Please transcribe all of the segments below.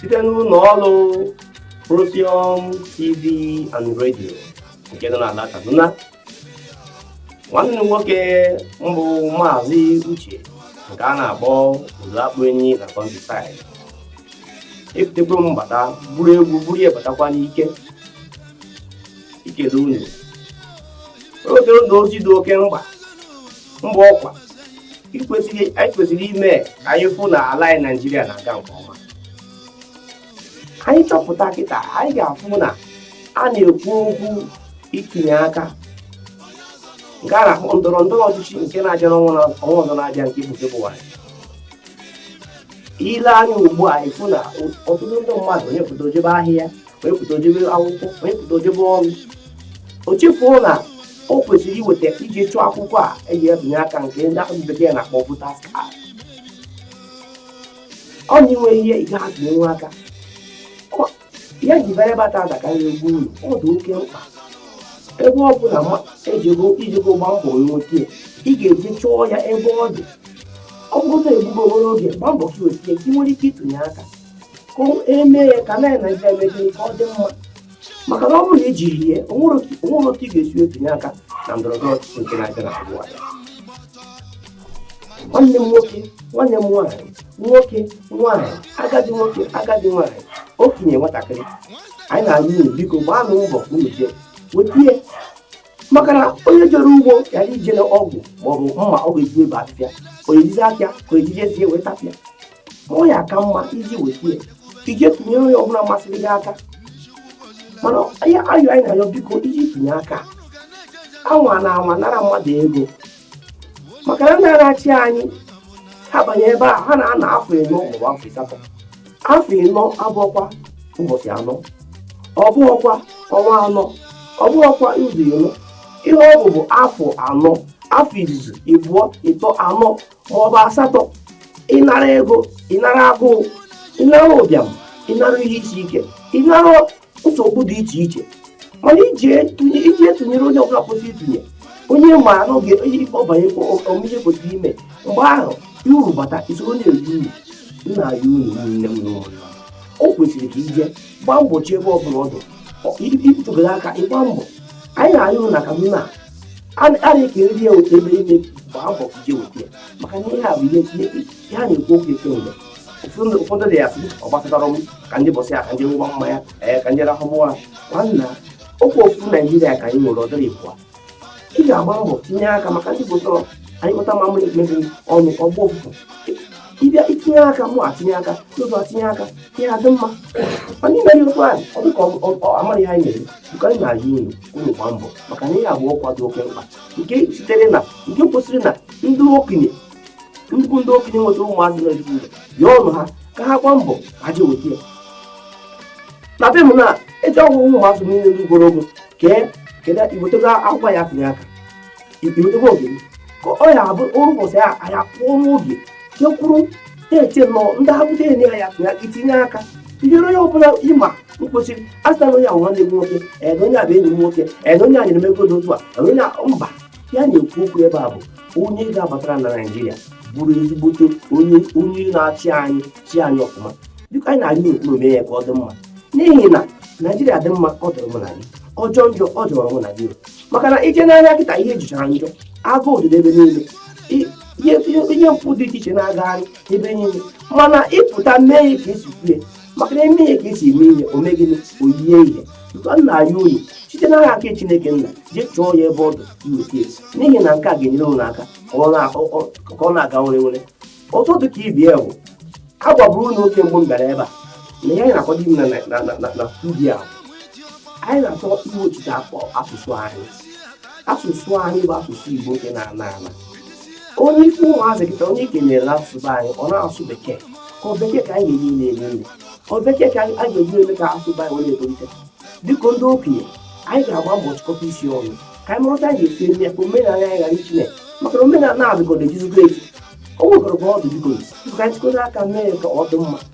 site n'ụlọ ọrụ Procyon TV and Radio nke nọ n'ala Kaduna nwanne m nwoke m bụ maazị Uche nke a na-akpọ Ụzọakpụ Enyi na Countryside ebutekwa m bata buru egwu buru ya batakwa n'ike ikele unu oge ụzọ ozi dị oke mkpa mkpa ọkwa anyị kwesịrị ime ka anyị fụ na ala anyị naijiria na-aga nke ọma anyị chọpụta kịta anyị ga-afụ na a na-ekwu okwu itinye aka nke a na-akpọ ndọrọ ndọrọ ọchịchị nke na-abịa n'ọnwa na- ọnwa ọzọ na-abịa nke bụ febụwarị i lee anya ugbu a ị fụ na ọtụtụ ndị mmadụ onye pụta o jebe ahịa onye pụta o jebe akwụkwọ onye pụta o jebe ọrụ o chefuo na o kwesịrị iweta ije chụọ akwụkwọ a eji ebinye aka nke ndị ahụ bekee na-akpọ voters card ọ na inwe ihe ị ga-eji atụnye aka ya ji bara bata ada karịrị egwu unu ọ dị oke mkpa ebe ọ bụla ejego ijego gba mbọ nweta ị ga-eje chọọ ya ebe ọ dị ọ bụrụ na e gbuo obere oge gba mbọ ka i wetie ka ị nwere ike ịtụnye aka ka eme ya ka ala naijiria mejiri ka ọ dị mma maka na ọ bụrụ na i jirọ ya o nwerọ otu ị ga-esi etinye aka na ndọrọndọrọ ọchịchị nke na-abịa na febụwarị nwanne m nwoke nwanne m nwaanyị nwoke nwaanyị agadi nwoke agadi nwaanyị okenye nwatakịrị anyị na-ayọ unu biko gbaanụ mbọ unu jee wetie maka na onye jere ugbo ghara ijiri ọgụ maọbụ mma ọ ga-eji ebe afịa ka ejizi aka ka ejije zie wee tapịa ma ọ ya-aka mma ije wetie ije tụnyere onye ọbụla masịrị gị aka mana ayịyọ anyị na-ayọ biko i jee tụnye aka anwana anwa nara mmadụ ego maka na ndị na-achị anyị ha banye ebe a ha na-anọ afọ ịnọ maọbụ afọ ịsatọ afọ ịnọ abụghọkwa ụbọchị anọ ọ bụghọkwa ọnwa anọ ọ bụghọkwa izu ịnọ ihe ọ bụ bụ afọ anọ afọ izizi ịbụọ ịtọ anọ maọbụ asatọ ị nara ego ị nara agụụ ị nara ụbịam ị nara ihe isi ike ị nara nsogbu dị iche iche mana i jee tụnyere onye ọbụla kwesịrị itinye onye ma n'oge onye ikpe ọ banye omume kwesịrị ime mgbe ahụ uru bata i soro na-eri uru nna ya unu nne m n'ụlọ o kwesịrị ka ije gbaa mgbochi ebe ọbụla ọ dị ịtụgara aka ịgba mbọ anyị na-ayụrụ na kaduna a na-ekere ya otu ebe ime gbaa mbọ ije weta maka na ihe a bụ ihe ha na-ekwu okwu ekemgbe ụfọdụ ndị ya-asị ọ gbasatarọ m ka ndị bọsị ya ka m jee ṅụwa mmanya ee ka m jee rahụ ụra nwanna ọkwa ofu naijiria ka anyị nwere ọ dịrọ ịbụa ị ga-agba mbọ tinye aka maka ndị igbo sịrị anyụkọta mamịrị ọnụ ọ gbọọ ụfụfụ ị bịa tinye aka mụ etinye aka ọzọ etinye aka ihe adị mma mana ime ihe otu onye ọ dịka amaghị ihe anyị na-eme biko anyị na-ayọ unu unu gbaa mbọ maka na ihe a bụ okwu dị oke mkpa nke sitere na nke kwesịrị na ndị okenye nnukwu ndị okenye nwetara ụmụazị na-etinye ya ọnụ ha ka ha gbaa mbọ ha jee weta ya na be m na eji agwa ụmụazị niile ndị ruru ogo kee kedu iwetego akwụkwọ ya tinye aka iwetego oge ka ọ ya abụ ụbọchị ya anyị apụọ n'oge jee kwụrụ na-eche nọ ndị ha bute enye ya tinye aka itinye aka tinyere onye ọbụla ịma mkpochiri asịta na onye a bụ nwanne gị nwoke ee na onye a bụ enyi m nwoke ee na onye a nyere m ego dị otu a ee na onye a mba ihe a na-ekwu okwu ebe a bụ onye ga-abatara na naijiria bụrụ ezigbote onye onye na-achị anyị chịa anyị ọfụma biko anyị na-arịọ ka unu mee ya ka ọ dị mma n'ihi na naijiria dị mma ọ dịrị mụ na gị ọ jọọ njọ ọ jọọrọ mụ na gị maka na i jee n'ahịa kịta ihe jọchara njọ agụụ dị n'ebe niile ihe mpụ dị iche iche na-agagharị ebe niile mana ịpụta mee ya ka esi kwue maka na eme ihe ka esi eme ihe o mee gịnị o yie ihe biko na-ayọ unu site n'aha nke chineke nna jee chọọ ya ebe ọ dị iweta esi n'ihi na nke a ga-enyere unu aka ka ọ na-aga were were ọzọ dị ka ibe ya bụ agwaburu m unu oge mbụ m bịara ebe a na ihe anyị na-akwado ime na studio a anyị na-achọ iwechite asụsụ anyị asụsụ anyị bụ asụsụ igbo nke na-ana ana onye ikwu ụmụazị kịta onye i kenere n'asụsụ anyị ọ na-asụ bekee ka ọ bekee ka anyị ga-eji na-eri nri ọ bekee ka anyị ga-eji eme ka asụsụ anyị wee na-etolite biko ndị okenye anyị ga-agba mbọ chịkọta isi ọnụ ka anyị mara otu anyị ga-esi eme ya ka omenala anyị ghara ichi na maka na omenala na-adịgọdọ echizigo echi o nwegoro ka ọ dị biko ka anyị chịkọta aka mee ka ọ dị mma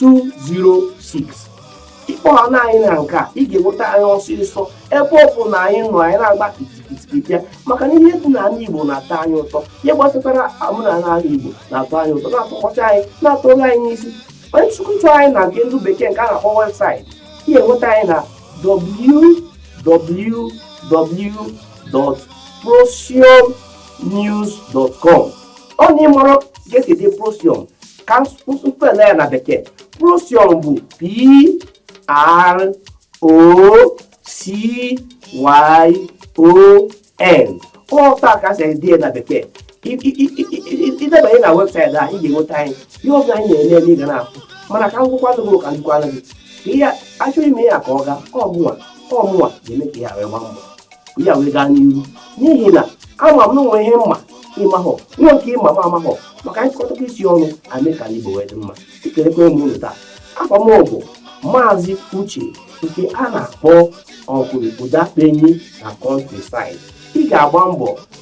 206 ịkpọọ anyị na nke a ị ga-enweta anyị ọsịsọ ebe ọ bụ na anyị nọ anyị na-agba kitikitiki bịa maka na ihe dị na ala igbo na-atọ anyị ụtọ ihe gbasatara omenala ala igbo na-atọ anyị ụtọ na-atọkọcha anyị na-atọru anyị n'isi onye na-achọkwu anyị na nke ndị bekee nke a na-akpọ webụsaịtị ị ga-enweta anyị na www.procyonnews.com ọ na ịmarọ ka esi ede procyon ka m spell ya na bekee procyon bụ p r o c y o n otu a ka si ede na bekee idebanye na webụsaịtị a ị ga-enweta anyị ihe ọbụla anyị na-eme eme ị ga na-afụ mana ka m gwakwa gị ka m gwakwa gị ka ihe achọghị ime ya ka ọ gaa ọ mụnwa ọ mụnwa ga-eme ka ihe a wee gbaa mbọ ya wee gaa n'ihu n'ihi na ama m na o nwee ihe m ma ị mahọ nwee nke ị ma m amahọ maka anyị chịkọtakwa isi ọnụ e mee ka igbo wee dị mma ekelekwa m unu taa a ka m bụ maazị uche nke a na-akpọ okwuru ụdọ akpụ enyi na countryside ị ga-agba mbọ